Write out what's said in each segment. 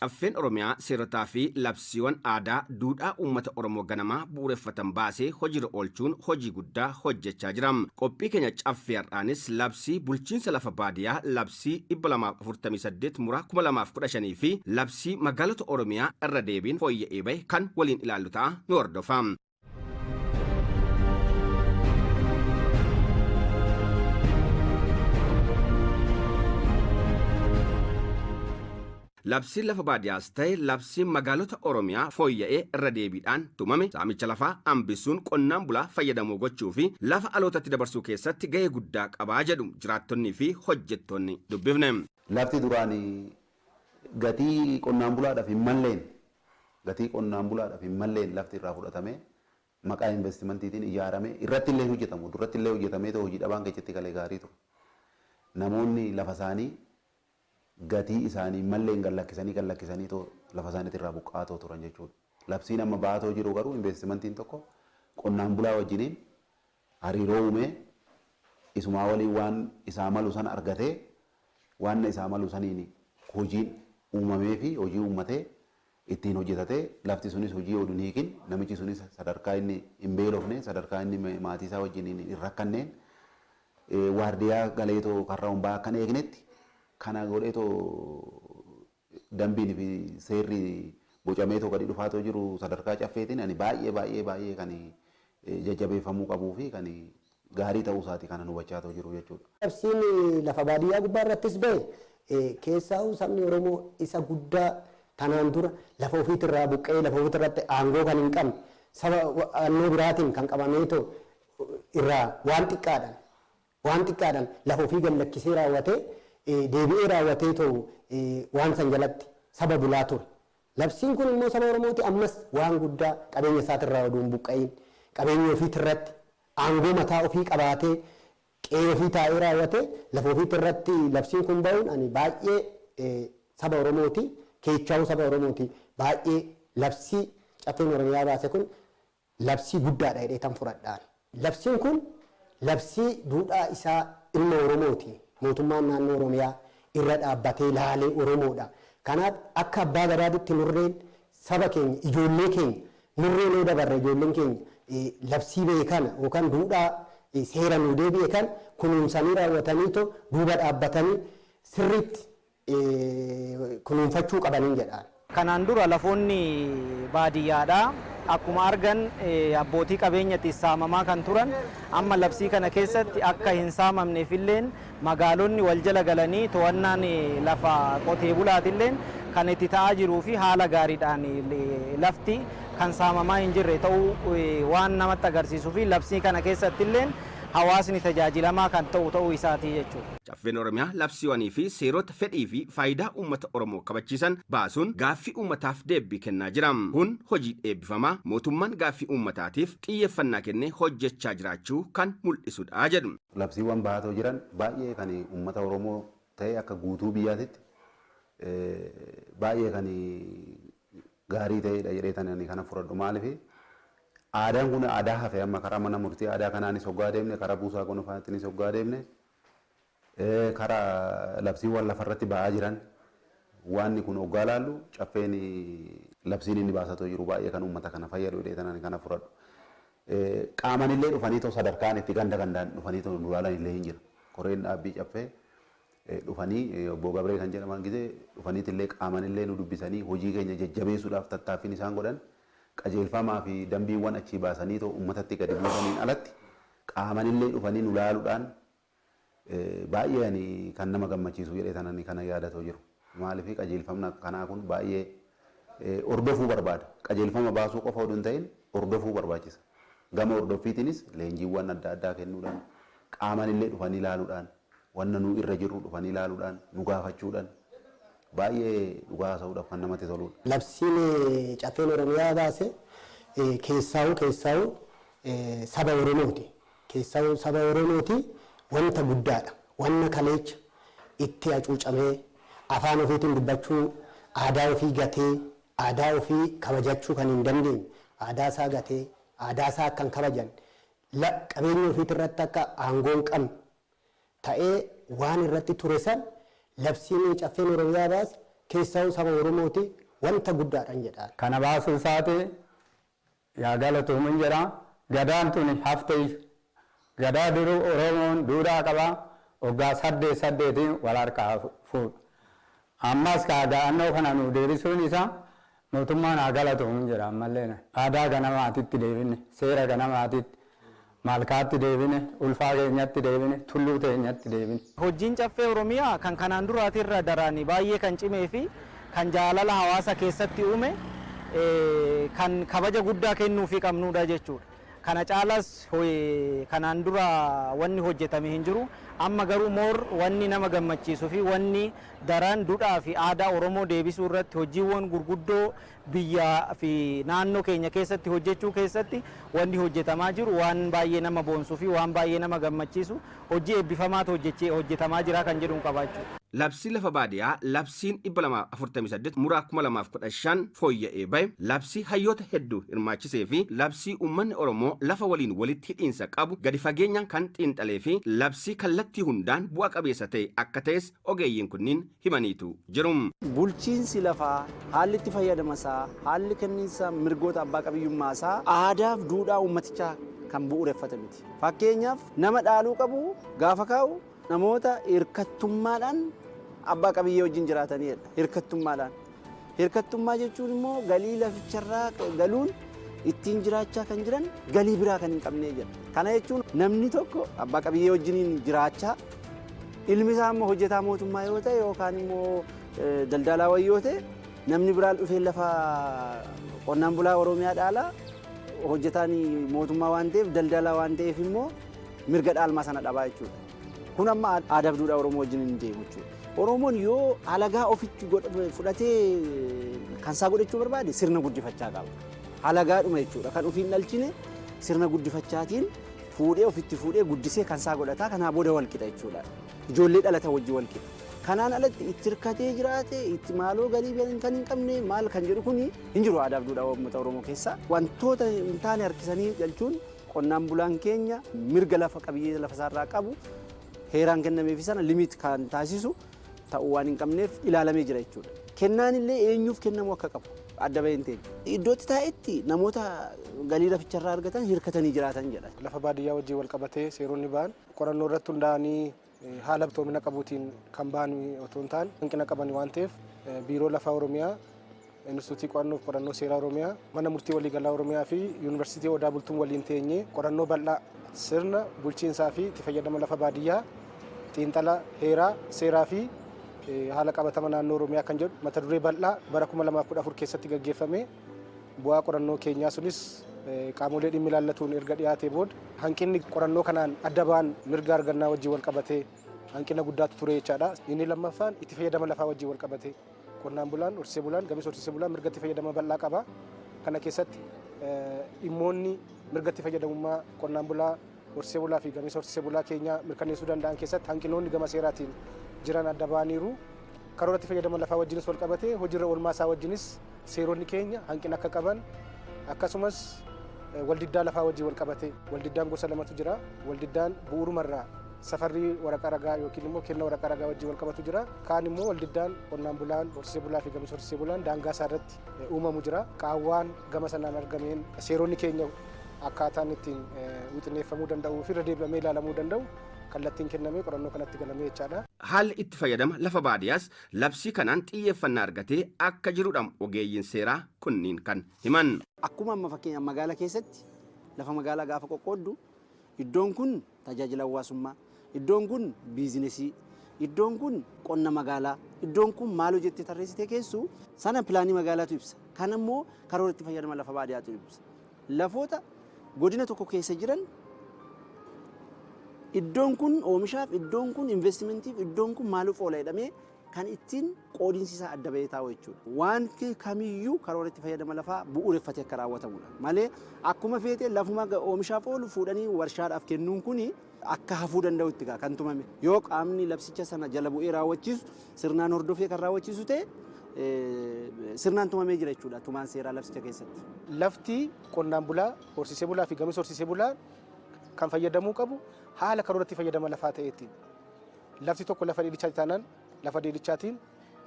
Caffeen Oromiyaa seerotaa fi labsiiwwan aadaa duudhaa uummata Oromoo ganamaa bu'uureffatan baasee hojiirra oolchuun hojii guddaa hojjechaa jira. Qophii keenya caffee har'aanis labsii bulchiinsa lafa baadiyaa labsii Labsii 248 Mura 2015 fi Labsii Magaalota Oromiyaa irra deebiin fooyya'ee bahe kan waliin ilaallu ta'a nu hordofaa. Labsiin lafa baadiyaas ta'e labsiin magaalota Oromiyaa fooyya'ee irra deebiidhaan tumame saamicha lafaa hambisuun qonnaan bulaa fayyadamoo gochuu fi lafa alootatti dabarsuu keessatti gahee guddaa qaba jedhu jiraattonnii fi hojjettoonni dubbifne. Lafti duraan gatii qonnaan bulaadhaaf hin malleen gatii qonnaan bulaadhaaf hin malleen lafti irraa fudhatamee maqaa investimantiitiin ijaaramee irratti illee hin hojjetamu. Durratti illee hojjetamee otoo hojii dhabaan keessatti galee gaarii ture. Namoonni lafa isaanii gatii isaanii malleen gad lakkisanii gad lakkisanii too lafa isaaniitii irraa buqqa'aa too turan jechuudha. Labsiin amma ba'aa too jiru garuu investimentiin tokko qonnaan bulaa wajjiniin hariiroo uumee isumaa waliin waan isaa malu san argatee waanna isaa malu saniin hojiin uumamee fi hojii uummatee itti hin hojjetate lafti sunis hojii odu hin hiikin namichi sunis sadarkaa inni hin beelofne sadarkaa inni maatii isaa wajjin hin hin rakkanneen eh, waardiyaa galeetoo karra hunbaa akkan eegnetti kana godheetoo dambiin fi seerri bocameetoo gadi dhufaatoo jiru sadarkaa caffeetiin ani baay'ee baay'ee baay'ee kan eh, jajjabeeffamuu qabuu fi kan gaarii ta'uu isaati kanan hubachaatoo jiru jechuudha. Labsiin lafa baadiyyaa gubbaa irrattis ba'e keessaahuu sabni Oromoo isa guddaa tanaan dura lafa ofiit irraa buqqa'ee lafa ofiit irratti aangoo kan hin qabne saba annoo biraatiin kan qabameetoo irraa waan xiqqaadhan waan xiqqaadhan lafa ofii gad lakkisee raawwatee deebi'ee raawwateetoo waan san jalatti saba bulaa ture. Labsiin kun immoo saba Oromooti ammas waan guddaa qabeenya isaat irraa oduu hin buqqa'iin qabeenya ofiit irratti aangoo mataa ofii qabaatee qe'ee ofii taa'ee raawwatee lafa ofiitti irratti labsiin kun ba'uun ani baay'ee saba Oromooti keechaawuu saba Oromooti baay'ee labsii Caffeen Oromiyaa baase kun labsii guddaadha jedheetan fudhadha ani. Labsiin kun labsii duudhaa isaa ilma Oromooti mootummaan naannoo Oromiyaa irra dhaabbatee laalee Oromoodha kanaaf akka abbaa gadaatitti murreen saba keenya, ijoollee keenya, murree mee dabarre ijoolleen keenya labsii bahe kana yookaan duudhaa seera nuu deebi'e kana kunuunsanii raawwataniitoo duuba dhaabbatanii sirriitti kunuunfachuu qabaniin jedha ani. Kanaan dura lafoonni baadiyyaadhaa akkuma argan abbootii qabeenyati saamamaa kan turan amma labsii kana keessatti akka hin saamamneefilleen Magaalonni wal jala galanii to'annaan lafa qotee bulaatilleen kan itti ta'aa jiruu fi haala gaariidhaan lafti kan saamamaa hin jirre ta'uu waan namatti agarsiisuu fi labsii kana keessattilleen hawaasni tajaajilamaa kan ta'u ta'uu isaati jechuudha. Caffeen Oromiyaa labsiiwanii fi seerota fedhii fi faayidaa uummata Oromoo kabachiisan baasuun gaaffii uummataaf deebbii kennaa jira. Kun hojii eebbifamaa mootummaan gaaffii uummataatiif xiyyeeffannaa kennee hojjechaa jiraachuu kan mul'isudha jedhu. Labsiiwwan bahaatoo jiran baay'ee kan uummata Oromoo ta'ee akka guutuu biyyaatitti baay'ee kan gaarii ta'eedha jedheetan ani kana fudhadhu. Maaliif aadaan kun aadaa hafe amma karaa mana murtii aadaa kanaanis hoggaa deemne karaa buusaa gonofaatiinis hoggaa deemne karaa labsiiwwan lafarratti ba'aa jiran waanni kun hoggaa laallu caffeen labsiin inni baasatoo jiru baay'ee kan uummata kana fayyadu jedheetan ani kana fudhadhu. Qaamanillee dhufaniitoo sadarkaan itti ganda gandaan dhufaniitoo nu laalanillee hin jira. Koreen dhaabbii Caffee dhufanii Obbo Gabree kan jedhaman gizee dhufaniitillee qaamanillee nu dubbisanii hojii keenya jajjabeessuudhaaf tattaaffiin isaan godhan qajeelfamaa fi dambiiwwan achii baasaniitoo ummatatti gadi buusaniin alatti qaamanillee dhufanii nu laaluudhaan Baay'ee ani kan nama gammachiisu jedhee tanan kana yaadatoo jiru. Maaliif qajeelfamni akka kanaa kun baay'ee hordofuu barbaada. Qajeelfama baasuu qofa oduu hin ta'in hordofuu barbaachisa. Gama hordoffiitiinis leenjiiwwan adda addaa kennuudhaan qaaman illee dhufanii ilaaluudhaan wanna nu irra jirru dhufanii ilaaluudhaan nu gaafachuudhaan baay'ee dhugaa haasa'uudhaaf kan namatti toluudha. Labsiin Caffeen Oromiyaa baase keessaahuu keessaahuu saba Oromooti. Keessaahuu saba Oromooti wanta guddaadha. Wanna kaleecha itti acuucamee, afaan ofiitiin dubbachuu, aadaa ofii gatee, aadaa ofii kabajachuu kan hin dandeenye, aadaa isaa gatee, aadaa isaa akka hin kabajanne, la qabeenya ofiitii irratti akka aangoo hin qabne ta'ee waan irratti ture san labsiin Caffeen Oromiyaa baase keessaahuu saba Oromooti wanta guddaadhan jedhaan. Kana baasuu isaati Yaa galatoomin jedha gadaan tuni hafteeyyu gadaa duruu oromoon duudhaa qaba oggaa saddeet saddeetiin wal harkaa fuudhu ammas kaa da'annoo kana nuu deebisuun isaa mootummaan haa galatoomin jedha ammalleen aadaa ganamaatitti deebinne seera ganamaatitti Malkaatti deebine, ulfaa keenyatti deebine, tulluu teenyatti deebine. Hojjiin Caffee Oromiyaa kan kanaan duraati irra daraan baay'ee kan cimee fi kan jaalala hawaasa keessatti uume kan kabaja guddaa kennuufii qabnuudha jechuudha. Kana caalas kanaan dura wanni hojjetame hin jiru. Amma garuu more wanni nama gammachiisu fi wanni daran dudhaa fi aadaa Oromoo deebisuu irratti hojjiiwwan gurguddoo biyya fi naannoo keenya keessatti hojjechuu keessatti wanni hojjetamaa jiru waan baay'ee nama boonsu fi waan baay'ee nama gammachiisu hojji eebbifamaatu hojjetamaa jira kan jedhun qaba jechuudha. Labsii Lafa Baadiyaa Labsiin 248 Muraa 2015 fooyya'ee bahe, labsii hayyoota hedduu hirmaachisee fi labsii uummanni Oromoo lafa waliin walitti hidhiinsa qabu gadi fageenyaan kan xiinxalee fi labsii kallattii hundaan bu'a qabeessa ta'e akka ta'es ogeeyyiin kunniin himaniitu jiru. Bulchiinsi lafaa, haalli itti fayyadama isaa, haalli kenniinsa mirgoota abbaa qabiyyummaa isaa aadaaf duudhaa uummatichaa kan bu'uureffate miti. Fakkeenyaaf, nama dhaaluu qabu gaafa kaa'u namoota hirkattummaadhaan abbaa qabiyyee wajjin jiraataniidha. Hirkattummaadhaan. Hirkattummaa jechuun immoo galii laficharraa galuun ittiin jiraachaa kan jiran galii biraa kan hin qabnee jedha. Kana jechuun namni tokko abbaa qabiyyee wajjiniin jiraachaa ilmi isaa immoo hojjetaa mootummaa yoo ta'e yookaan immoo daldalaa wayii yoo ta'e namni biraan dhufee lafa qonnaan bulaa Oromiyaa dhaalaa hojjetaan mootummaa waan ta'eef daldalaa waan ta'eef immoo mirga dhaalmaa sana dhabaa jechuudha. Kun amma aadaaf duudhaa Oromoo wajjin hin deemu jechuudha. Oromoon yoo alagaa ofitti fudhatee kan isaa godhachuu barbaade sirna guddifachaa qaba. Alagaadhuma jechuudha kan ofiin dhalchine sirna guddifachaatiin fuudhee ofitti fuudhee guddisee kan isaa godhataa kanaa booda wal qixa jechuudha. Ijoollee dhalata wajjin wal qixa. Kanaan alatti itti hirkatee jiraate itti maaloo galii kan hin qabne maal kan jedhu kun hin jiru aadaaf duudhaa uummata Oromoo keessaa. Wantoota hin taane harkisanii galchuun Qonnaan bulaan keenya mirga lafa qabiyyee lafa isaarraa qabu heeraan kennameefi sana limit kan taasisu ta'uu waan hin qabneef ilaalamee jira jechuudha. Kennaan illee eenyuuf kennamuu akka qabu adda bahee hin teenye. Iddootti taa'etti namoota galii laficharraa argatan hirkatanii jiraatan jedha. Lafa baadiyyaa wajjin walqabatee seeronni bahan qorannoo irratti hundaa'anii haala iftoomina qabuutiin kan bahan otoo hin taane hanqina qaban waan ta'eef Biiroo Lafaa Oromiyaa, Inistituutii Qo'annoo fi Qorannoo Seeraa Oromiyaa, Mana Murtii Waliigalaa Oromiyaa fi Yuunivarsiitii Odaa Bultum waliin teenyee qorannoo bal'aa sirna bulchiinsaa fi itti fayyadama lafa baadiyyaa, xiinxala heeraa, seeraa fi haala qabatama naannoo Oromiyaa kan jedhu mata duree bal'aa bara 2014 keessatti gaggeeffame. Bu'aa qorannoo keenyaa sunis qaamolee dhimmi ilaallatuun erga dhiyaatee booda hanqinni qorannoo kanaan adda ba'an mirga argannaa wajjin wal qabatee hanqina guddaatu ture jechaadha. Inni lammaffaan itti fayyadama lafaa wajjin wal qabatee qonnaan bulaan, horsiisee bulaan, gamis horsiisee bulaan mirga itti fayyadama bal'aa qaba. Kana keessatti dhimmoonni mirga itti fayyadamummaa qonnaan bulaa Horsiisee bulaa fi gameessa horsiisee bulaa keenyaa mirkanneessuu danda'an keessatti hanqinoonni gama seeraatiin jiran adda ba'aniiru. Karoora itti fayyadama lafaa wajjinis wal qabatee hojiirra oolmaa isaa wajjinis seeronni keenya hanqina akka qaban akkasumas waldiddaa lafaa wajjin wal qabatee waldiddaan gosa lamatu jira. Waldiddaan bu'uurumarraa safarrii waraqaa ragaa yookiin immoo kenna waraqaa ragaa wajjin wal qabatu jira. Kaan immoo waldiddaan qonnaan bulaan horsiisee bulaa fi gameessa horsiisee bulaan daangaa isaa irratti uumamu jira. Qaawwaan gama sanaan argameen seeronni keenya akkaataan ittiin wixineeffamuu danda'uu fi irra deebi'amee ilaalamuu danda'u kallattiin kennamee qorannoo kanatti galamee jechaadha. Haalli itti fayyadama lafa baadiyaas labsii kanaan xiyyeeffannaa argatee akka jirudha ogeeyyiin seeraa kunniin kan himan. Akkuma amma fakkeenyaaf magaala keessatti lafa magaalaa gaafa qoqqooddu iddoon kun Tajaajila Hawaasummaa, Iddoon kun biizinesii, iddoon kun qonna magaalaa, iddoon kun maaloo jettee tarreessitee keessu sana pilaanii magaalaatu ibsa. Kan ammoo karoora itti fayyadama lafa baadiyaatu ibsa. Lafoota godina tokko keessa jiran iddoon kun oomishaaf, iddoon kun investimentiif, iddoon kun maaliif oola jedhamee kan ittiin qoodinsi isaa adda bahee taa'u jechuudha. Wanti kamiyyuu karoora itti fayyadama lafaa bu'uureffatee akka raawwatamudha. Malee akkuma feete lafuma oomishaaf oolu fuudhanii warshaadhaaf kennuun kun akka hafuu danda'u itti kan tumame. Yoo qaamni labsicha sana jala bu'ee raawwachiisu sirnaan hordofee kan raawwachiisu ta'e sirnaan tumamee jira jechuudha tumaan seeraa labsicha keessatti. Lafti qonnaan bulaa, horsiisee bulaa fi gamis horsiisee bulaa kan fayyadamuu qabu haala karoora itti fayyadama lafaa ta'eetiin. Lafti tokko lafa dheedichaati taanaan lafa dheedichaatiin,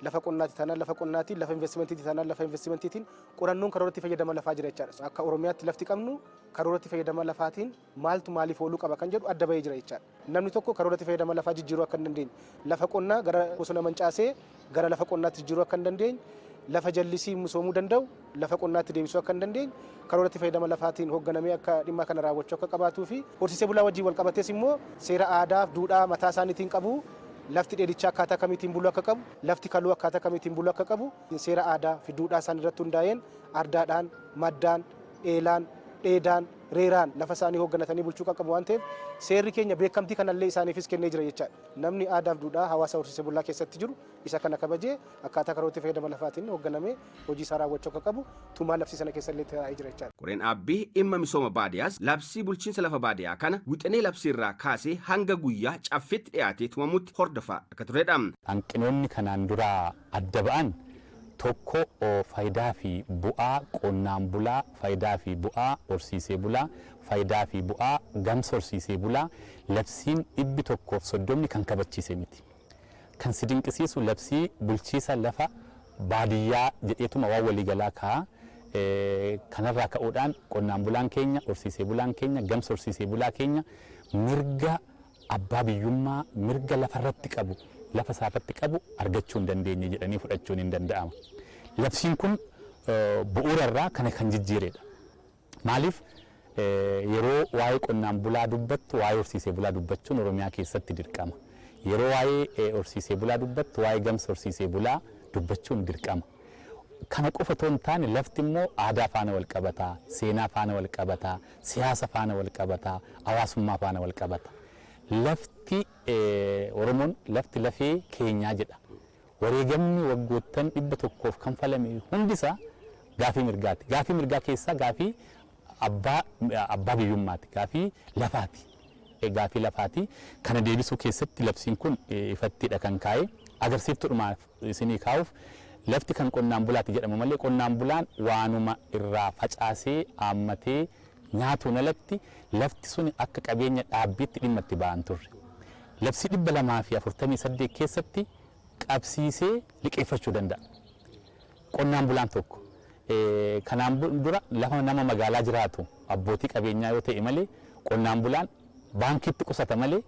lafa qonnaati taanaan lafa qonnaatiin, lafa investimentiiti taanaan lafa investimentiitiin qorannoon karoora itti fayyadama lafaa jira jechaadha. Akka Oromiyaatti lafti qabnu karoora itti fayyadama lafaatiin maaltu maaliif ooluu qaba kan jedhu adda bahee jira jechaadha. Namni tokko karoora itti fayyadama lafaa jijjiiruu akka hin dandeenye, lafa qonnaa gara bosona mancaasee gara lafa qonnaatti jijjiiruu akka hin dandeenye, lafa jallisii misoomuu danda'u lafa qonnaatti deebisuu akka hin dandeenye, karoora itti fayyadama lafaatiin hoogganamee akka dhimma kana raawwachuu akka qabaatuu fi horsiisee bulaa wajjin wal qabatees immoo seera aadaa fi duudhaa mataa isaaniitiin qabu. Lafti dheedichaa akkaataa kamiitiin buluu akka qabu, lafti kaluu akkaataa kamiitiin buluu akka qabu seera aadaa fi duudhaa isaanii irratti hundaa'een ardaadhaan, maddaan, eelaan, dheedaan, reeraan lafa isaanii hoogganatanii bulchuu kan qabu waan ta'eef seerri keenya beekamtii kanallee isaaniifis kennee jira jechaadha. Namni aadaaf duudhaa hawaasa horsiisee bulaa keessatti jiru isa kana kabajee akkaataa karoora itti fayyadama lafaatiin hogganamee hojii isaa raawwachuu akka qabu tumaa labsii sana keessa illee taa'ee jira jechaadha. Koreen dhaabbii dhimma misooma baadiyaas labsii bulchiinsa lafa baadiyaa kana wixinee labsii irraa kaasee hanga guyyaa caffiitti dhiyaatee tumamutti hordofaa akka turedha. Hanqinoonni kanaan duraa adda ba'an, 1 faayidaa fi bu'aa qonnaan bulaa, faayidaa fi bu'aa horsiisee bulaa, faayidaa fi bu'aa gamsa horsiisee bulaa labsiin dhibbi 1 fi 30 kan kabachiise miti. Kan si dinqisiisu labsii bulchiisa lafa baadiyyaa jedheetuma waan walii galaa kaa'a. Kanarraa ka'uudhaan qonnaan bulaan keenya, horsiisee bulaan keenya, gamsa horsiisee bulaa keenya mirga abbaa biyyummaa mirga lafa irratti qabu lafa isaa irratti qabu argachuu hin dandeenye jedhanii fudhachuun hin danda'ama. Labsiin kun bu'uura irraa kana kan jijjiiredha. Maaliif yeroo waa'ee qonnaan bulaa dubbattu waa'ee horsiisee bulaa dubbachuun Oromiyaa keessatti dirqama. Yeroo waa'ee horsiisee bulaa dubbattu waa'ee gamsa horsiisee bulaa dubbachuun dirqama. Kana qofa otoo hin taane lafti immoo aadaa faana wal qabata, seenaa faana wal qabata, siyaasa faana wal qabata, hawaasummaa faana wal qabata. Lafti Oromoon lafti lafee keenyaa jedha. Wareegamni waggoottan dhibba tokkoof kanfalame hundisaa gaafii mirgaati. Gaafii mirgaa keessaa gaafii abbaa abbaa biyyummaati. Gaafii lafaati. Gaafii lafaati. Kana deebisuu keessatti labsiin kun ifattidha kan kaa'e. Agarsiiftuudhumaaf isinii kaa'uuf, lafti kan qonnaan bulaati jedhamu malee qonnaan bulaan waanuma irraa facaasee, aammatee nyaatuun alatti lafti suni akka qabeenya dhaabbiitti dhimma itti ba'aa hin turre. Labsii 248 keessatti qabsiisee liqeeffachuu danda'a qonnaan bulaan tokko. Kanaan dura lafa nama magaalaa jiraatu abbootii qabeenyaa yoo ta'e malee qonnaan bulaan baankiitti qusata malee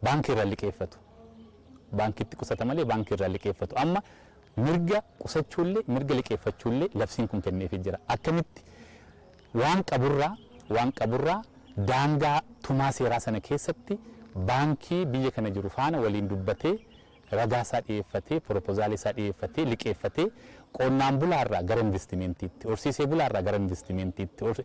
baankii irraa liqeeffatu. Baankiitti qusata malee baankii irraa liqeeffatu. Amma mirga qusachuullee mirga liqeeffachuullee labsiin kun kenneefii jira. Akkamitti waan qaburraa waan qaburraa daangaa tumaa seeraa sana keessatti baankii biyya kana jiru faana waliin dubbatee ragaa isaa dhiyeeffatee, piropozaala isaa dhiyeeffatee, liqeeffatee qonnaan bulaa irraa gara investimentiitti, horsiisee bulaa irraa gara investimentiitti, hor-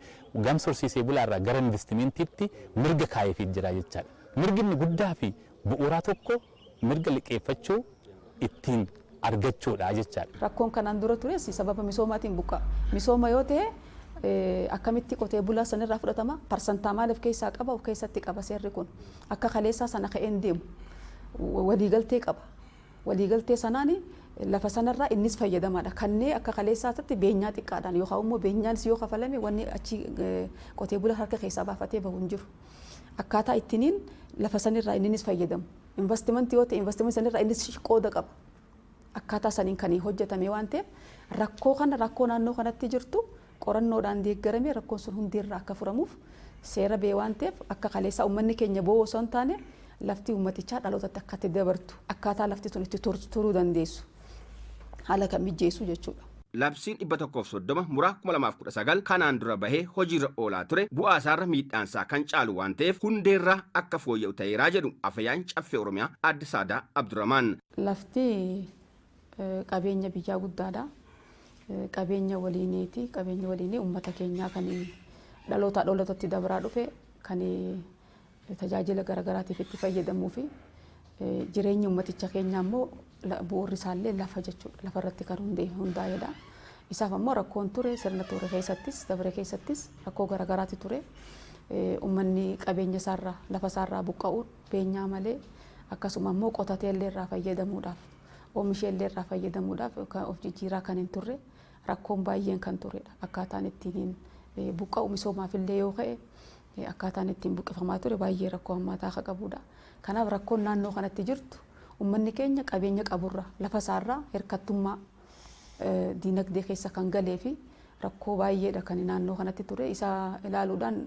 gamsa horsiisee bulaa irraa gara investimentiitti mirga kaayeefiit jira jechaadha. Mirgi inni guddaa fi bu'uuraa tokko mirga liqeeffachuu ittiin argachuudha jechaadha. Rakkoon kanaan dura tures sababa misoomaatiin buqqa'a. Misooma yoo ta'e eh, akkamitti qotee bulaa sanirraa fudhatama? Parsantaa maal of keessaa qaba? Of keessatti qaba seerri kun. Akka kaleessaa sana ka'ee hin deemu. Waliigaltee qaba. Waliigaltee sanaan lafa sanarraa innis fayyadamaadha. Kannee akka kaleessaatti beenyaa xiqqaadhaan yookaan immoo beenyaanis yoo kafalame wanni achi qotee bula harka keessaa baafatee bahu hin jiru. Akkaataa ittiniin lafa sanirraa inninis fayyadamu. Investimentii yoo ta'e investimentii sanirraa innis qooda qaba. akkaataa saniin kan hojjetame waan ta'eef rakkoo kana rakkoo naannoo kanatti jirtu qorannoodhaan deeggaramee rakkoon sun hundi irraa akka furamuuf seera bee waan ta'eef akka kaleessaa uummanni keenya boo osoo hin taane lafti uummatichaa dhalootatti akka itti dabartu akkaataa lafti sun itti turuu dandeessu haala kan mijeessu jechuudha. Labsiin 130 muraa 2019 kanaan dura bahee hojiirra oolaa ture bu'aa isaarra miidhaansaa kan caalu waan ta'eef hundeerraa akka fooyya'u ta'eeraa jedhu Afayaan Caffee Oromiyaa Aadde Saadaa Abdurramaan. Lafti qabeenya biyyaa guddaadha. Qabeenya waliiniiti. Qabeenyi waliinii uummata keenyaa kan dhalootaa dhalootatti dabraa dhufe kan tajaajila garaagaraatiif itti fayyadamuu fi jireenyi uummaticha keenyaa immoo bu'uurri isaallee lafa jechuudha. Lafa irratti kan hundaa'edha. Isaaf ammoo rakkoon ture sirna ture keessattis dabre keessattis rakkoo garaagaraatu ture. Uummanni qabeenya isaarraa lafa isaarraa buqqa'uun beenyaa malee akkasuma immoo qotatee illee irraa fayyadamuudhaaf oomishee illee irraa fayyadamuudhaaf kan of jijjiiraa kan hin turre rakkoon baay'een kan turedha. Akkaataan ittiin eh, buqqa'u misoomaaf illee yoo ka'e eh, akkaataan ittiin buqqifamaa ture baay'ee rakkoo hammaataa akka qabudha. Kanaaf rakkoon naannoo kanatti jirtu uummanni keenya qabeenya qaburraa lafa isaarraa hirkattummaa eh, diinagdee keessa kan galee fi rakkoo baay'eedha kan naannoo kanatti ture. Isa ilaaluudhaan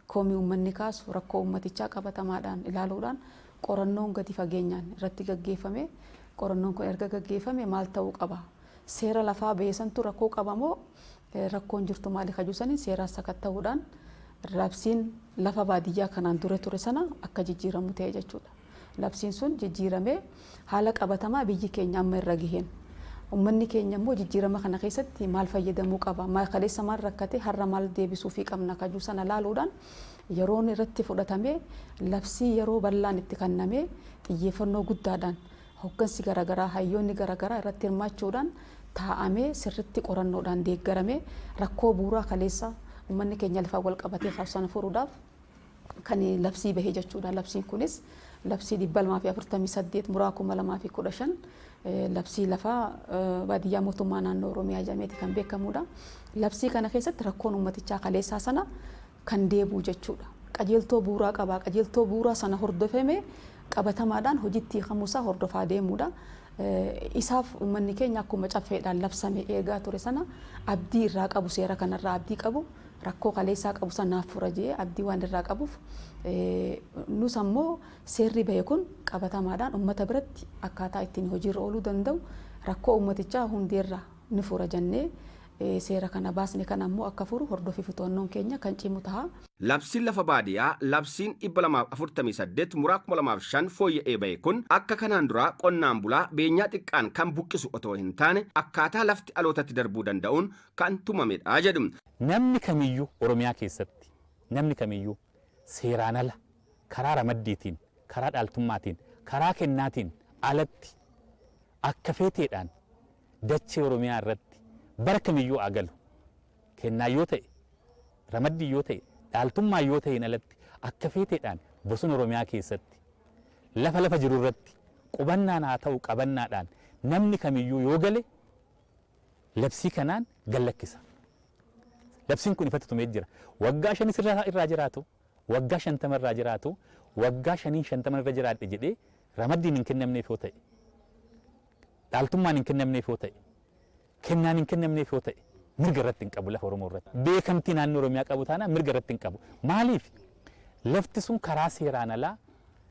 Komii ummanni kaasu rakkoo ummatichaa qabatamaadhaan ilaaluudhaan qorannoon gadi fageenyaan irratti gaggeeffamee qorannoon kun erga gaggeeffame maal ta'uu qaba? Seera lafaa ba'e santu rakkoo qaba moo rakkoon jirtu maali ka jedhu saniin seeraan sakatta'uudhaan labsiin lafa baadiyyaa kanaan dura ture sana akka jijjiiramu ta'e jechuudha. Labsiin sun jijjiiramee haala qabatamaa biyyi keenya amma irra gaheen ummanni keenya immoo jijjiirama kana keessatti maal fayyadamuu qaba, kaleessa maal rakkate har'a maal deebisuufii qabna kajuu sana laaluudhaan yeroon irratti fudhatamee labsii yeroo bal'aan itti kannamee xiyyeeffannoo guddaadhaan hoggansi garagaraa hayyoonni garagaraa irratti hirmaachuudhaan taa'amee sirritti qorannoodhaan deeggaramee rakkoo buuraa kaleessa ummanni keenya lafaan wal qabatee kaasu sana furuudhaaf kan labsii bahe jechuudha. Labsiin kunis labsii 248 muraa 2015 labsii lafa baadiyyaa mootummaa naannoo Oromiyaa jedhameeti kan beekamudha. Labsii kana keessatti rakkoon uummatichaa kaleessaa sana kan deebi'u jechuudha. Qajeeltoo buuraa qaba. Qajeeltoo buuraa sana hordofame qabatamaadhaan hojiitti hiikamuusaa hordofaa deemuudha. Isaaf uummanni keenya akkuma caffeedhaan labsame eegaa ture sana abdii irraa qabu seera kanarraa abdii qabu. rakkoo kaleessaa qabu san naaf fura jedhee abdii waan irraa qabuuf nus ammoo seerri bahe kun qabatamaadhaan ummata biratti akkaataa ittiin hojiirra ooluu danda'u rakkoo ummatichaa hundeerraa ni fura jennee seera kana baasne kana ammoo akka furu hordofii fi to'annoon keenya kan cimu taha. Labsiin Lafa Baadiyaa Labsiin 248 muraa 2005 fooyya'ee bahe kun akka kanaan duraa qonnaan bulaa beenyaa xiqqaan kan buqqisu otoo hin taane akkaataa lafti alootatti darbuu danda'uun kan tumamedha jedhu. Namni kamiyyuu Oromiyaa keessatti namni kamiyyuu seeraan ala, karaa ramaddiitiin, karaa dhaaltummaatiin, karaa kennaatiin alatti akka feeteedhaan dachee Oromiyaa irratti bara kamiyyuu haa galu, kennaan yoo ta'e, ramaddiin yoo ta'e, dhaaltummaan yoo ta'een alatti akka feeteedhaan bosona Oromiyaa keessatti lafa lafa jiru irratti qubannaan haa ta'u qabannaadhaan namni kamiyyuu yoo gale, labsii kanaan gad lakkisa. Labsiin kun ifatti tumee jira. Waggaa shanis irra irraa jiraatu, waggaa shantama irraa jiraatu, waggaa shaniin shantaman irra jiraadhe jedhee ramaddiin hin kennamneef yoo ta'e, dhaaltummaan hin kennamneef yoo ta'e, kennaan hin kennamneef yoo ta'e mirga irratti hin qabu lafa Oromoo irratti. Beekamtii naannoo Oromiyaa qabu taanaan mirga irratti hin qabu. Maaliif? Lafti sun karaa seeraan alaa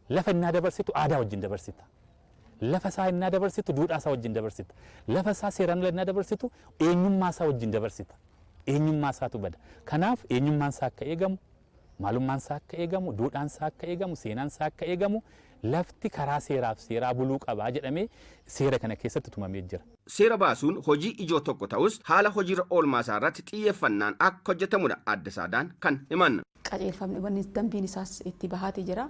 lafa innaa dabarsitu aadaa wajjin dabarsita. Lafa isaa ennaa dabarsitu duudhaa isaa wajjin dabarsita. Lafa isaa seeraan ala ennaa dabarsitu eenyummaa isaa wajjin dabarsita. Eenyummaa isaatu bada. Kanaaf eenyummaan isaa akka eegamu, maalummaan isaa akka eegamu, duudhaan isaa akka eegamu, seenaan isaa akka eegamu lafti karaa seeraaf seeraa buluu qaba jedhamee seera kana keessatti tumamee jira. Seera baasuun hojii ijoo tokko ta'us haala hojiirra oolmaa isaa irratti xiyyeeffannaan akka hojjetamudha Aadde Saadaan kan himan. qajeelfamni yookiin dambiin isaas itti bahaati jira.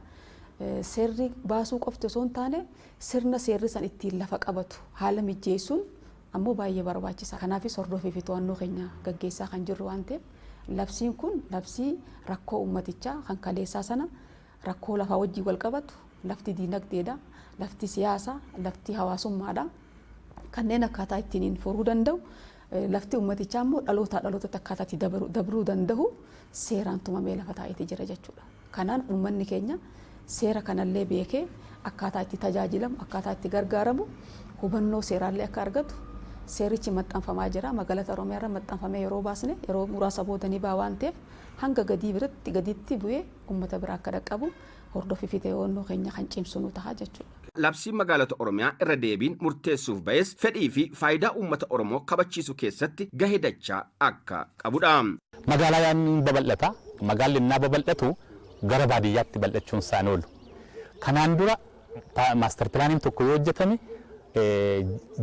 Seerri baasuu qofti osoo hin taane sirna seerri san ittiin lafa qabatu haala mijjeessuun ammoo baay'ee barbaachisaa. Kanaafis hordofii fi to'annoo keenya gaggeessaa kan jirru waan ta'eef labsiin kun labsii rakkoo uummatichaa kan kaleessaa sana rakkoo lafaa wajjin wal qabatu lafti diinagdeedha, lafti siyaasa, lafti hawaasummaadha. Kanneen akkaataa ittiin furuu danda'u Lafti ummatichaa immoo dhalootaa dhalootatti akkaataa itti dabruu dandahu seeraan tumamee lafa taa'eeti jira jechuudha. Kanaan ummanni keenya seera kanallee beekee akkaataa itti tajaajilamu, akkaataa itti gargaaramu hubannoo seeraallee akka argatu seerichi maxxanfamaa jira. Magalata Oromiyaarra maxxanfamee yeroo baasne yeroo muraasa booda ni baha waan ta'eef hanga gadii biratti gadiitti bu'ee ummata biraa akka dhaqqabu hordoffiifi ta'eewwannoo keenya kan cimsu nu taha jechuudha. Labsiin Magaalota Oromiyaa irra deebiin murteessuuf ba'es fedhii fi faayidaa uummata Oromoo kabachiisu keessatti gahe dachaa akka qabu dha. Magaalaan ni babal'ata. Magaalli ennaa babal'atu gara baadiyyaatti bal'achuun isaa hin oolu. Kanaan dura master pilaaniin tokko yoo hojjetame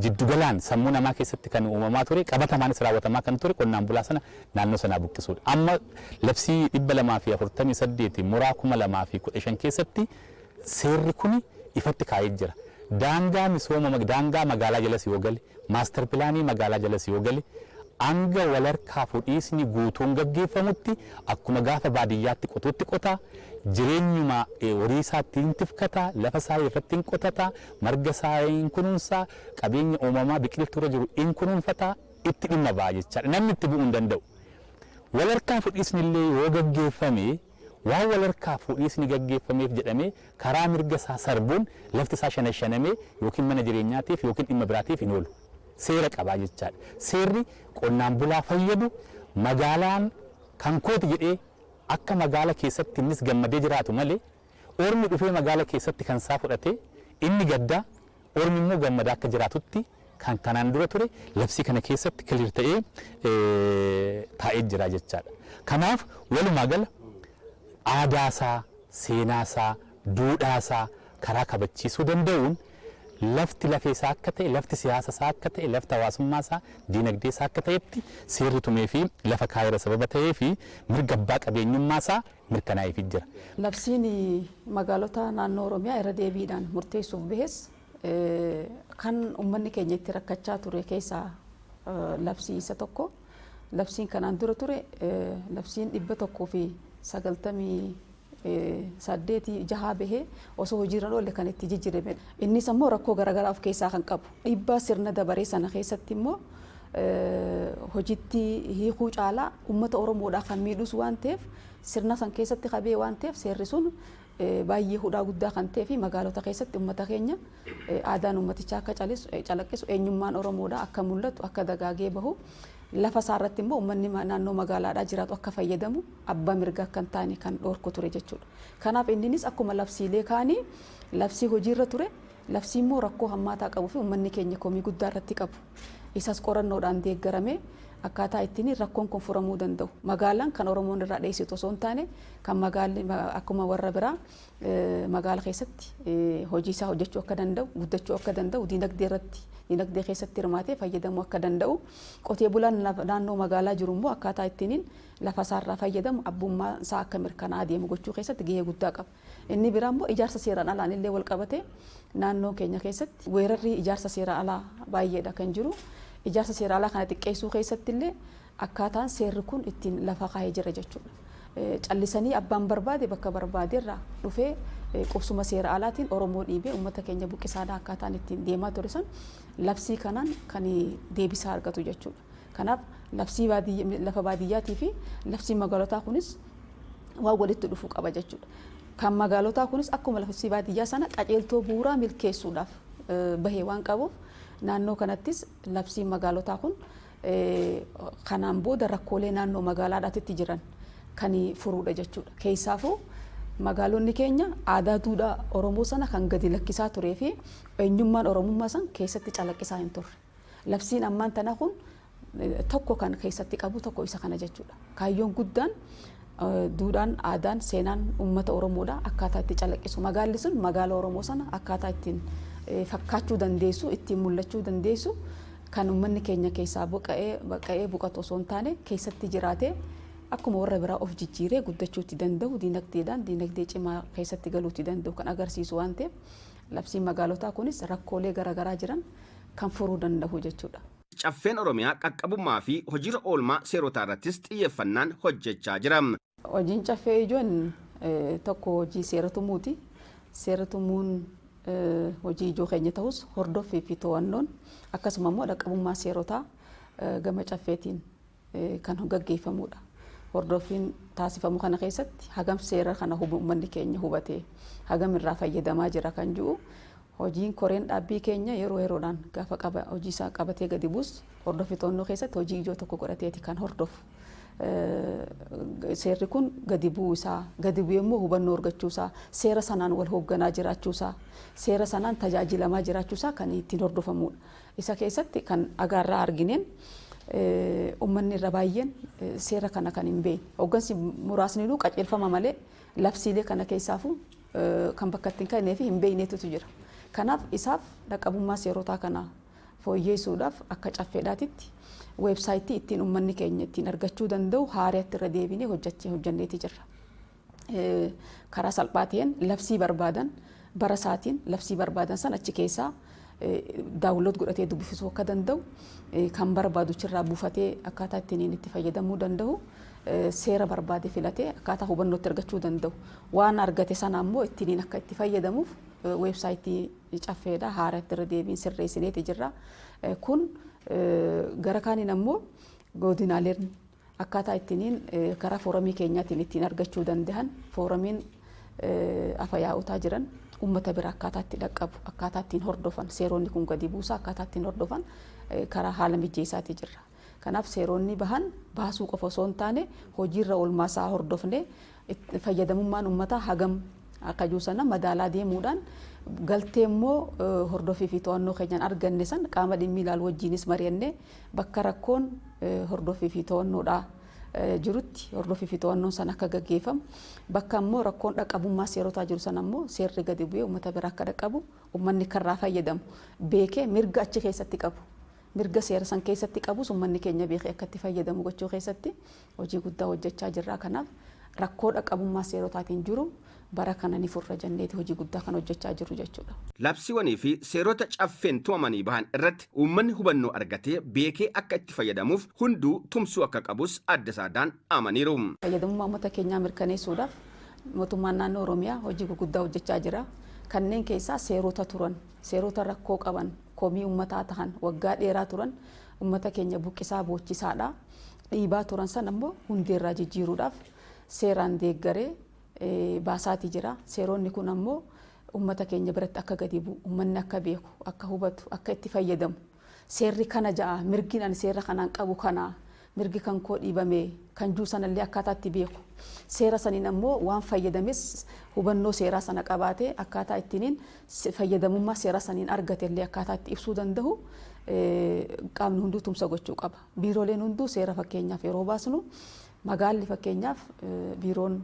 jiddu galaan sammuu namaa keessatti kan uumamaa ture qabatamaanis raawwatamaa kan ture qonnaan bulaa sana naannoo sanaa buqqisuu dha. Amma labsii 248 muraa 2015 keessatti Seerri kuni ifatti kaa'ee jira. Daangaa misooma daangaa magaalaa jalas yoo gale, master pilaanii magaalaa jalas yoo gale hanga walharkaa fudhiisni guutuun gaggeeffamutti akkuma gaafa baadiyyaatti qotuutti qota, jireenyuma horii isaatti hin tifkata, lafa isaa irratti hin qotata, marga isaa hin kunuunsa, qabeenya uumamaa biqiltuu irra jiru hin kunuunfata, itti dhimma ba'a jechaadha. Namni itti bu'uu hin danda'u. Walharkaa fudhiisni illee yoo gaggeeffame. waan wal harkaa fuudhiisni gaggeeffameef jedhamee karaa mirga isaa sarbuun lafti isaa shanashanamee ykn mana jireenyaatiif ykn dhimma biraatiif hin oolu. Seera qaba jechaadha. Seerri qonnaan bulaa fayyadu magaalaan kan kooti jedhee akka magaala keessatti innis gammadee jiraatu malee ormi dhufee magaala keessatti kan isaa fudhatee inni gaddaa, Ormi immoo gammadaa akka jiraatutti kan kanaan dura ture labsii kana keessatti clear ta'ee taa'ee jira jechaadha. Kanaaf walumaa gala aadaa isaa, seenaa isaa, duudhaa isaa karaa kabachiisuu danda'uun lafti lafee isaa akka ta'e, lafti siyaasa isaa akka ta'e, lafti hawaasummaa isaa, diinagdee isaa akka ta'etti seerri tumee fi lafa kaa'eera sababa ta'ee fi mirga abbaa qabeenyummaa isaa mirkanaa'eefii jira. Labsiin magaalota naannoo Oromiyaa irra deebiidhaan murteessuuf bahes kan ummanni keenya itti rakkachaa ture keessaa labsii isa tokko. Labsiin kanaan dura ture labsiin 198 jahaa bahee osoo hojiirra hin oolle kan itti jijjiiramedha. Innis ammoo rakkoo garaagaraa of keessaa kan qabu. Dhiibbaa sirna dabaree sana keessatti immoo hojitti hiikuu caalaa ummata Oromoodhaa kan miidhus waan ta'eef sirna san keessatti ka ba'e waan ta'eef seerri sun baay'ee hudhaa guddaa kan ta'ee fi magaalota keessatti ummata keenya aadaan ummatichaa akka calaqqisu eenyummaan Oromoodhaa akka mul'atu akka dagaagee bahu lafa isaa irratti immoo ummanni naannoo magaalaadhaa jiraatu akka fayyadamu abbaa mirga akka hin taane kan dhoorku ture jechuudha. Kanaaf inninis akkuma labsiilee kaanii labsii hojiirra ture Labsii immoo rakkoo hammaataa qabu fi ummanni keenya komii guddaa irratti qabu. Isas qorannoodhaan deeggaramee akkaataa ittiin rakkoon kun furamuu danda'u. Magaalaan kan Oromoon irraa dheessitu osoo hin taane kan magaalli akkuma warra biraa magaala keessatti hojii isaa hojjechuu akka danda'u, guddachuu akka danda'u, diinagdee irratti diinagdee keessatti hirmaatee fayyadamuu akka danda'u, qotee bulaan naannoo magaalaa jiru immoo akkaataa ittiin lafa isaarraa fayyadamu abbummaa isaa akka mirkanaa'aa deemu gochuu keessatti gahee guddaa qaba. Inni biraa immoo ijaarsa seeraan alaan illee walqabatee naannoo keenya keessatti weerarri ijaarsa seeraa alaa baay'eedha kan jiru. Ijaarsa seeraa alaa kana xiqqeessuu keessatti illee akkaataan seerri kun ittiin lafa kaa'ee jira jechuudha. Callisanii abbaan barbaade bakka barbaaderraa dhufee qubsuma seera alaatiin Oromoo dhiibee uummata keenya buqqisaadha akkaataan ittiin deemaa ture san labsii kanaan kan deebisaa argatu jechuudha. Kanaaf labsii baadiyyaa lafa baadiyyaatii fi labsiin magaalotaa kunis waan walitti dhufu qaba jechuudha. Kan magaalotaa kunis akkuma labsii baadiyyaa sana qajeeltoo bu'uuraa milkeessuudhaaf bahee waan qabuuf naannoo kanattis labsiin magaalotaa kun kanaan booda rakkoolee naannoo magaalaadhaatitti jiran kan furuudha jechuudha. Keessaafuu magaalonni keenya aadaa duudhaa Oromoo sana kan gadi lakkisaa turee fi eenyummaan Oromummaa san keessatti calaqqisaa hin turre. Labsiin ammaan tana kun tokko kan keessatti qabu tokko isa kana jechuudha. Kaayyoon guddaan duudhaan, aadaan, seenaan uummata Oromoodha akkaataa itti calaqqisu. Magaalli sun magaala Oromoo sana akkaataa ittiin fakkaachuu dandeessu, ittiin mul'achuu dandeessu kan uummanni keenya keessaa buqqa'ee buqatu osoo hin taane keessatti jiraatee akkuma warra biraa of jijjiiree guddachuutti danda'u diinagdeedhaan diinagdee cimaa keessatti galuutti danda'u kan agarsiisu waan ta'eef Labsiin magaalotaa kunis rakkoolee gara garaa jiran kan furuu danda'u jechuudha. Caffeen Oromiyaa qaqqabummaa fi hojiirra oolmaa seerotaa irrattis xiyyeeffannaan hojjechaa jira. Hojiin Caffee ijoon tokko hojii seera tumuuti. Seera tumuun hojii ijoo keenya tahus hordoffii fi to'annoon akkasuma immoo dhaqqabummaa seerotaa gama Caffeetiin kan gaggeeffamuudha. Hordoffiin taasifamu kana keessatti hagam seera kana uummanni keenya hubatee hagam irraa fayyadamaa jira kan jiru hojiin koreen dhaabbii keenya yeroo yeroodhaan gaafa qaba hojii isaa qabatee gadi buus hordoffi to'annoo keessatti hojii ijoo tokko godhateeti kan hordofu. Seerri kun gadi bu'uu isaa gadi bu'ee immoo hubannoo argachuu isaa seera sanaan wal hoogganaa jiraachuu isaa seera sanaan tajaajilamaa jiraachuu isaa kan ittiin hordofamudha. Isa keessatti kan dhagaa irraa argine ummanni irra baay'een seera kana kan hin beekne. Hoggansi muraasniinuu qajeelfama malee labsiilee kana keessaafuu kan bakka itti hin kennee fi hin beekneetutu jira. Kanaaf isaaf dhaqqabummaa seerotaa kana fooyyeessuudhaaf akka caffeedhaatitti weebsaayitii ittiin ummanni keenya ittiin argachuu danda'u haarayatti irra deebinee hojjanneeti jirra. karaa salphaa ta'een labsii barbaadan bara isaatiin labsii barbaadan san achi keessaa daawunlood godhatee dubbifisuu akka danda'u kan barbaadu achirraa buufatee akkaataa ittiin itti fayyadamuu danda'u seera barbaade filatee akkaataa hubannoo itti argachuu danda'u waan argate sana ammoo ittiin akka itti fayyadamuuf weebsaayitii caffeedha haara itti irra deebiin sirreessineeti jirra kun gara kaaniin ammoo godinaaleen Akkaataa ittiniin karaa fooramii keenyaatiin ittiin argachuu dandahan fooramiin afa yaa'otaa jiran ummata bira akkaataa itti dhaqqabu akkaataa ittiin hordofan seeroonni kun gadi buusaa akkaataa ittiin hordofan karaa haala mijjeessaatii jirra. Kanaaf seeroonni bahan baasuu qofa osoo hin taane hojiirra oolmaasaa hordofnee Itti fayyadamummaan ummataa hagam akka jiru sana madaalaa deemuudhaan galtee immoo hordofii fi to'annoo keenyaan arganne san qaama dhimmi ilaalu wajjiinis mari'annee bakka rakkoon hordofii fi to'annoodhaa jirutti hordofii fi to'annoon san akka gaggeeffamu bakka immoo rakkoon dhaqqabummaa seerotaa jiru sana immoo seerri gadi bu'ee uummata bira akka dhaqqabu uummanni karraa fayyadamu beekee mirga achi keessatti qabu mirga seera san keessatti qabus uummanni keenya beekee akka itti fayyadamu gochuu keessatti Hojii guddaa hojjachaa jirra. Kanaaf rakkoo dhaqqabummaa seerotaatiin jiru bara kana ni furra jenneeti hojii guddaa kan hojjachaa jirru jechuudha. Labsiiwwanii fi seerota Caffeen tumamanii bahan irratti uummanni hubannoo argatee beekee akka itti fayyadamuuf hunduu tumsuu akka qabus Aadde Saadaan dhaamaniiru. Fayyadamummaa uummata keenyaa mirkaneessuudhaaf Mootummaan Naannoo Oromiyaa hojii guguddaa hojjachaa jira. Kanneen keessaa seerota turan, seerota rakkoo qaban, komii uummataa tahan, waggaa dheeraa turan uummata keenya buqqisaa boochisaadha. dhiibaa turan san ammoo hundeerraa jijjiiruudhaaf seeraan deeggaree baasaatii jira. Seeroonni kun ammoo ummata keenya biratti akka gadi bu'u, ummanni akka beeku, akka hubatu, akka itti fayyadamu, seerri kana ja'a, mirgiin ani seera kanaan qabu kana, mirgi kan koo dhiibame kan juu sanallee akkaataa itti beeku, seera saniin ammoo waan fayyadames hubannoo seeraa sana qabaatee akkaataa ittiiniin fayyadamummaa seera saniin argatellee akkaataa itti ibsuu dandahu qaamni hunduu tumsa gochuu qaba. Biirooleen hunduu seera fakkeenyaaf yeroo baasnu magaalli fakkeenyaaf biiroon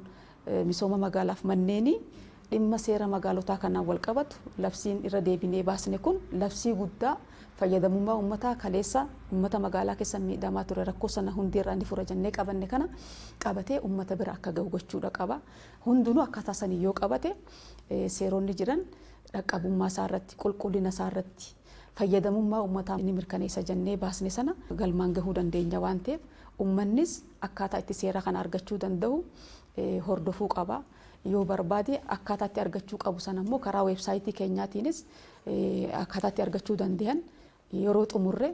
misooma magaalaaf manneenii dhimma seera magaalotaa kanaan walqabatu labsiin irra deebinee baasne kun labsii guddaa fayyadamummaa ummataa kaleessa ummata magaalaa keessa miidhamaa ture rakkoo sana hundee irraa ni fura jennee qabanne kana qabatee ummata bira akka ga'u gochuudha qaba. Hundinuu akkaataa saniin yoo qabate seeronni jiran dhaqqabummaa isaa irratti qulqullina isaa irratti fayyadamummaa ummataa ni mirkaneessa jennee baasne sana galmaan gahuu dandeenya waan ta'eef ummannis akkaataa itti seera kana argachuu danda'u hordofuu qaba. Yoo barbaade akkaataa itti argachuu qabu sana immoo karaa weebsaayitii keenyaatiinis akkaataa itti argachuu danda'an yeroo xumurre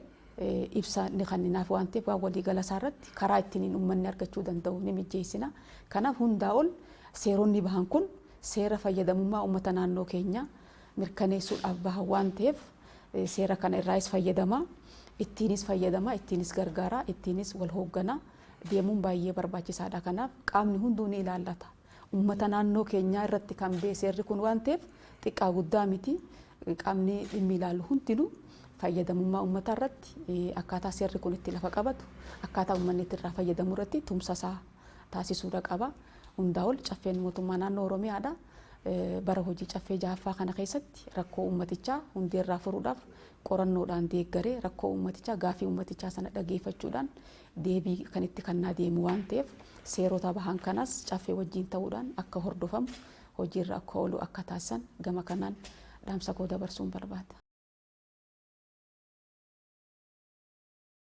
ibsa ni kenninaaf waan ta'eef waan waliigala isaa irratti karaa ittiin ummanni argachuu danda'u ni mijeessina. Kanaaf hundaa ol seeronni bahan kun seera fayyadamummaa ummata naannoo keenyaa mirkaneessuudhaaf bahan waan ta'eef seera kana irraayis fayyadama. Ittiinis fayyadama, ittiinis gargaara, ittiinis wal hooggana deemuun baay'ee barbaachisaadha. Kanaaf qaamni hunduu ni ilaallata. Uummata naannoo keenyaa irratti kan ba'e seerri kun waan ta'eef xiqqaa guddaa miti. Qaamni dhimmi ilaalu hundinuu fayyadamummaa uummataa irratti akkaataa seerri kun itti lafa qabatu, akkaataa uummanni itti irraa fayyadamu irratti tumsa isaa taasisuudha qaba. Hundaa ol caffeen mootummaa naannoo Oromiyaadha. bara hojii Caffee 6ffaa kana keessatti rakkoo uummatichaa hundeerraa furuudhaaf qorannoodhaan deeggaree rakkoo uummatichaa gaafii uummatichaa sana dhageeffachuudhaan deebii kan itti kannaa deemu waan ta'eef seerota bahan kanas Caffee wajjiin ta'uudhaan akka hordofamu hojiirra akka oolu akka taasisan gama kanaan dhaamsa koo dabarsuun barbaada.